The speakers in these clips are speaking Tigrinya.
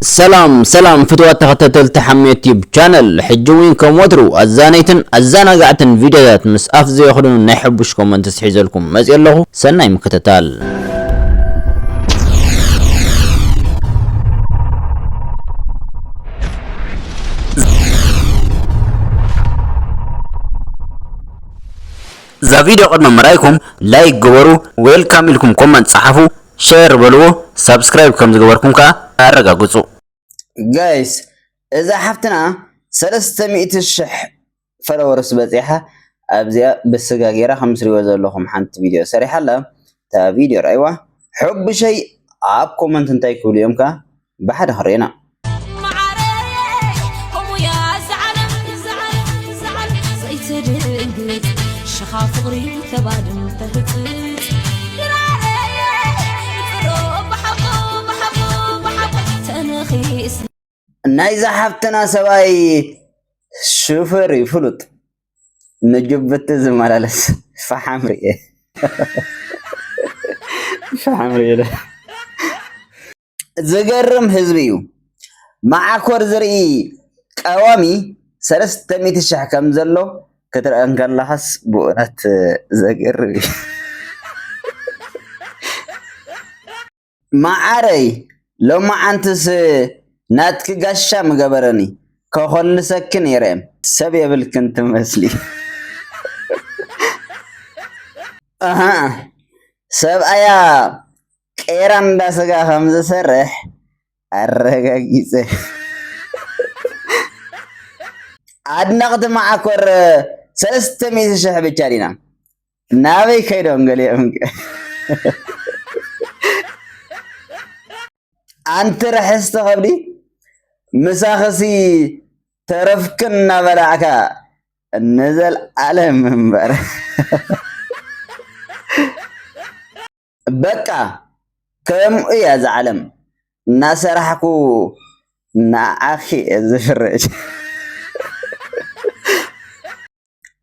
ሰላም ሰላም ፍትዋት ተኸታተልቲ ሓሜት ዩቲዩብ ቻነል ሕጂ እውን ከም ወትሩ ኣዛነይትን ኣዘናጋዕትን ቪድዮታት ምስ ኣፍ ዘየኽድኑ ናይ ሕቡሽ ኮመንት ስሒዘልኩም መፅእ ኣለኹ ሰናይ ምክትታል እዛ ቪድዮ ቅድሚ ምርኣይኩም ላይክ ግበሩ ዌልካም ኢልኩም ኮመንት ፀሓፉ ሼር በልዎ ሳብስክራይብ ከም ዝገበርኩም ከኣ ኣረጋግጹ። ጋይስ እዛ ሓፍትና ሰለስተ ሚእቲ ሽሕ ፈለወርስ በጺሓ ኣብዚኣ ብስጋ ጌራ ከም ትሪእዎ ዘለኹም ሓንቲ ቪድዮ ሰሪሓ ኣላ እታ ቪድዮ ርኣይዋ ሑቡሸይ ኣብ ኮመንት እንታይ ክብሉ እዮም ከኣ ብሓደ ክንሪኤና። ናይዛ ሓፍትና ሰብኣይ ሹፈር እዩ ፍሉጥ ንጅቡቲ ዝመላለስ ፈሓም ርኤ ፈሓም ርኤ ዝገርም ህዝቢ እዩ መዓኮር ዝርኢ ቀዋሚ ሰለስተ ሚእቲ ሽሕ ከም ዘሎ ክትርኢ እንከለኻስ ብእውነት ዘገርም እዩ መዓረይ ሎማዓንትስ ናትኪ ጋሻ ምገበረኒ ከኾልሰኪ ነይረ ሰብ የብልክን ትመስሊ ሰብኣያ ቄራ እንዳ ስጋ ከም ዝሰርሕ ኣረጋጊጸ። ኣድነቕቲ መዓኮር ሰለስተ ሚእቲ ሽሕ ብቻ ዲና ናበይ ከይዶም ገሊኦም ኣንቲ ርሕስቲ ከብዲ ምሳኽሲ ተረፍክን እናበላዕካ ንዘልኣለም እምበር በቃ ከምኡ እያ እዛ ዓለም እናሰራሕኩ ንዓኺ እየ ዝፍርድ።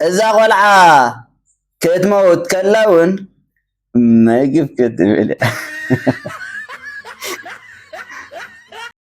እዛ ቆልዓ ክትመውት ከላ እውን መግብ ክትብል እያ።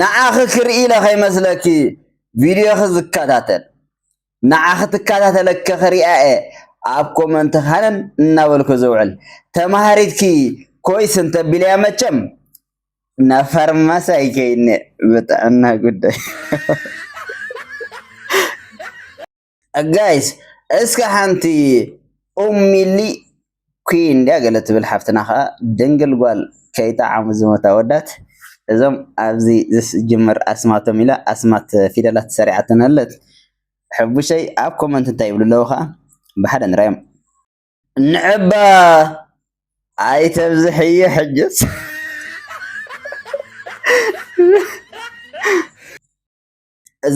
ንዓኺ ክርኢ ኢለ ከይመስለኪ ቪድዮኺ ዝከታተል ንዓኺ ትከታተለኪ ክሪኣ እየ ኣብ ኮመንቲ ሃነን እናበልኩ ዝውዕል ተማሃሪትኪ ኮይስ እንተቢለያ መቸም ናብ ፋርማሲ ኣይከይድን እየ ብጥዕና ጉዳይ ጋይስ እስከ ሓንቲ ኡም ሚሊ ኩን ድያ ገለ ትብል ሓፍትና ከዓ ድንግል ጓል ከይጠዓሙ ዝሞታ ኣወዳት እዞም ኣብዚ ዝጅምር ኣስማቶም ኢላ ኣስማት ፊደላት ሰሪዓተን ኣለት ሕቡሸይ ኣብ ኮመንት እንታይ ይብሉ ኣለዉ ከዓ ብሓደ ንራዮም ንዕባ ኣይተብዝሕዮ ሕጅስ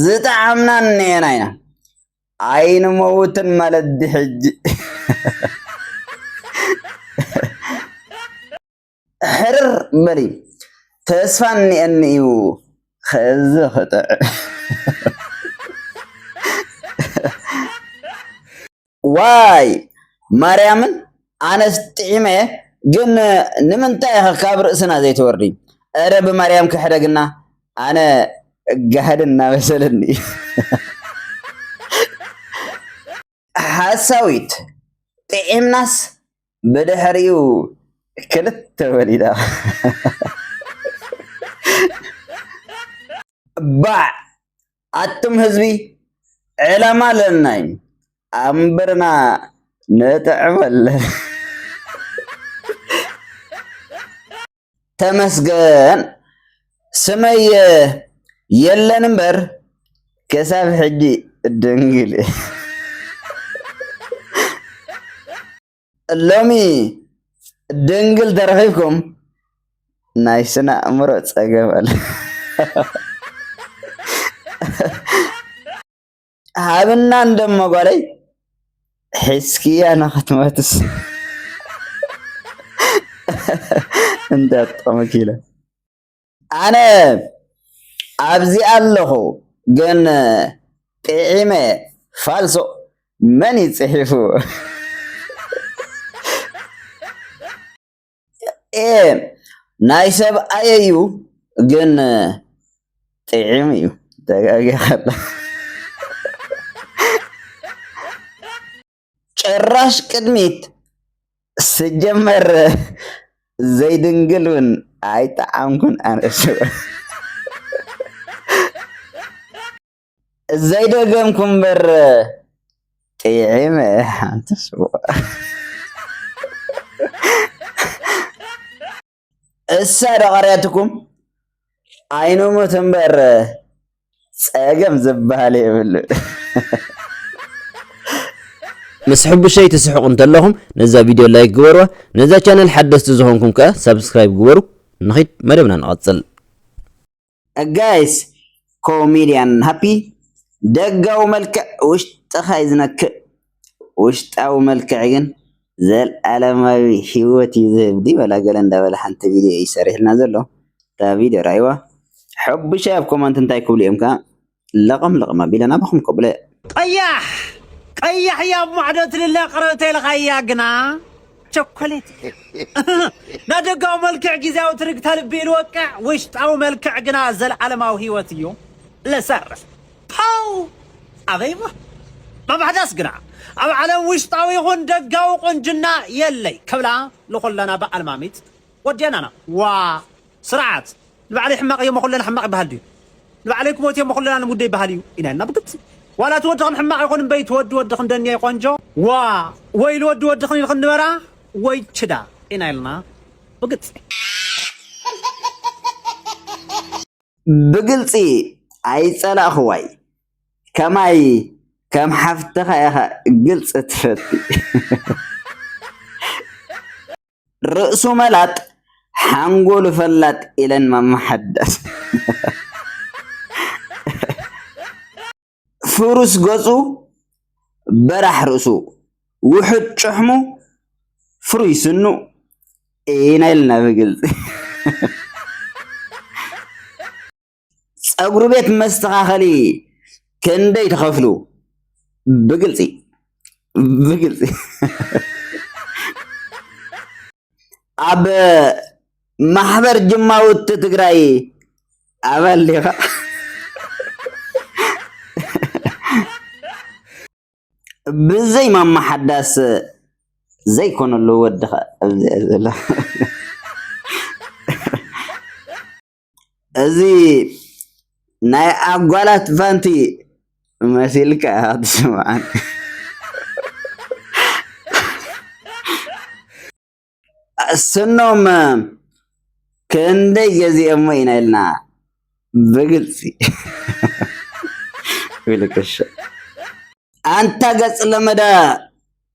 ዝጠዓምና እነየና ኢና ኣይንመውትን ማለት ድሕጂ ሕርር በሊ ተስፋ እኒአኒ እዩ ከዚ ክጥዕ ዋይ ማርያምን ኣነስ ጢዒመ ግን ንምንታይ ኢኺ ካብ ርእስና ዘይትወርዲ እረ ብማርያም ክሕደግና ኣነ ጋህድን እናበሰለኒ እዩ ሓሳዊት ጥዒምናስ ብድሕሪኡ ክልተ ወሊዳ ባዕ ኣቱም ህዝቢ ዕላማ ኣለና እዩ ኣምብርና ንጥዕመለ ተመስገን ስመየ የለን እምበር ክሳብ ሕጂ ድንግል ሎሚ ድንግል ተረኺብኩም ናይ ስነ ኣእምሮ ፀገም ኣለ ሃብና እንደሞ ጓለይ ሒዝክያ ንክትመትስ እንዳ ጠመኪለ ኣነ ኣብዚ ኣለኹ ግን ጢዒመ ፋልሶ መን እዩ ጽሒፉ ኤህ ናይ ሰብ ኣየዩ ግን ጥዒም እዩ ተጋጊኻ ጭራሽ ቅድሚት ስጀመር ዘይድንግል ውን ኣይጠዓምኩን ኣነ ሽኮር። ዘይደገምኩ እምበር ጥዒመ ሓንቲ ሽኮር። እሳ ደቐርያትኩም ኣይንሙት እምበር ጸገም ዝበሃል የብሉ ምስ ሕቡሸይ ትስሕቁ እንተለኹም ነዛ ቪድዮ ላይክ ግበርዋ ነዛ ቻነል ሓደስቲ ዝኾንኩም ከኣ ሳብስክራይብ ግበሩ ንኺድ መደብና ንቐጽል ጋይስ ኮሜድያን ሃፒ ደጋዊ መልክዕ ውሽጥካ እዩ ዝነክእ ውሽጣዊ መልክዕ ግን ዘልኣለማዊ ሂወት እዩ ዝህብ ድዩ ወላ ገለ እንዳበለ ሓንቲ ቪድዮ እዩ ሰሪሑልና ዘሎ እታ ቪድዮ ረኣይዋ ሐቡሻይ ኣብ ኮመንት እንታይ ክብሉ እዮም ከ። ለቐም ለቐም ኣቢለን ኣባኹም ከብለያ። ቀያሕ ቀያሕ እያ ኣብ ማዕዶ ትልለ ቅርብ ተልኻ እያ ግና ቸኮሌት ናደጋዊ መልክዕ ጊዜያዊ ትርግታ ልቢ ልወቅዕ ውሽጣዊ መልክዕ ግና ዘለዓለማዊ ህይወት እዩ ለሰርፍ ፓው ኣበይሞ መባሕዳስ ግና ኣብ ዓለም ውሽጣዊ ይኹን ደጋዊ ቁንጅና የለይ ከብላ ንኹለና በኣልማሚት ወዲያናና ዋ ስርዓት! ንባዕለይ ሕማቕ እየ'ሞ ኩልና ሕማቕ ይበሃል ድዩ? ንባዕለይ ክሞት እየ'ሞ ኩልና ንሙት ዶ ይበሃል እዩ? ኢና ኢልና ብግልጺ። ዋላ እቲ ወድኽን ሕማቕ ይኹን እምበይ እቲ ወዲ ወድኽን ደንየይ ቆንጆ! ዋእ! ወይ ኢሉ ወዲ ወድኽን ኢልኽን ንበራ ወይ ችዳ! ኢና ኢልና ብግልጺ። ብግልጺ ኣይጸላእኹዋይ ከማይ ከም ሓፍትኻ ኢኻ ግልጺ ትፈቲ። ርእሱ መላጥ ሓንጎሉ ፈላጥ ኢለን ማማ ሓዳስ ፍሩስ ገጹ በራሕ ርእሱ ውሑድ ጭሕሙ ፍሩይ ስኑ ኢና ኢልና ብግልፂ ፀጉሪ ቤት መስተኻኸሊ ክንደይ ተኸፍሉ ብግልፂ ብግልፂ ኣብ ማሕበር ጅማውቲ ትግራይ ኣባል ዲኻ? ብዘይ ማማ ሓዳስ ዘይኮነሉ ወድኻ ኣብዚኣ ዘሎ እዚ ናይ ኣጓላት ቫንቲ መሲልካ ኢኻ ትስምዓኒ ስኖም ክንደይ ገዚኦሞ ኢና ኢልና ብግልፂ ኣንታ ገፅ ለመዳ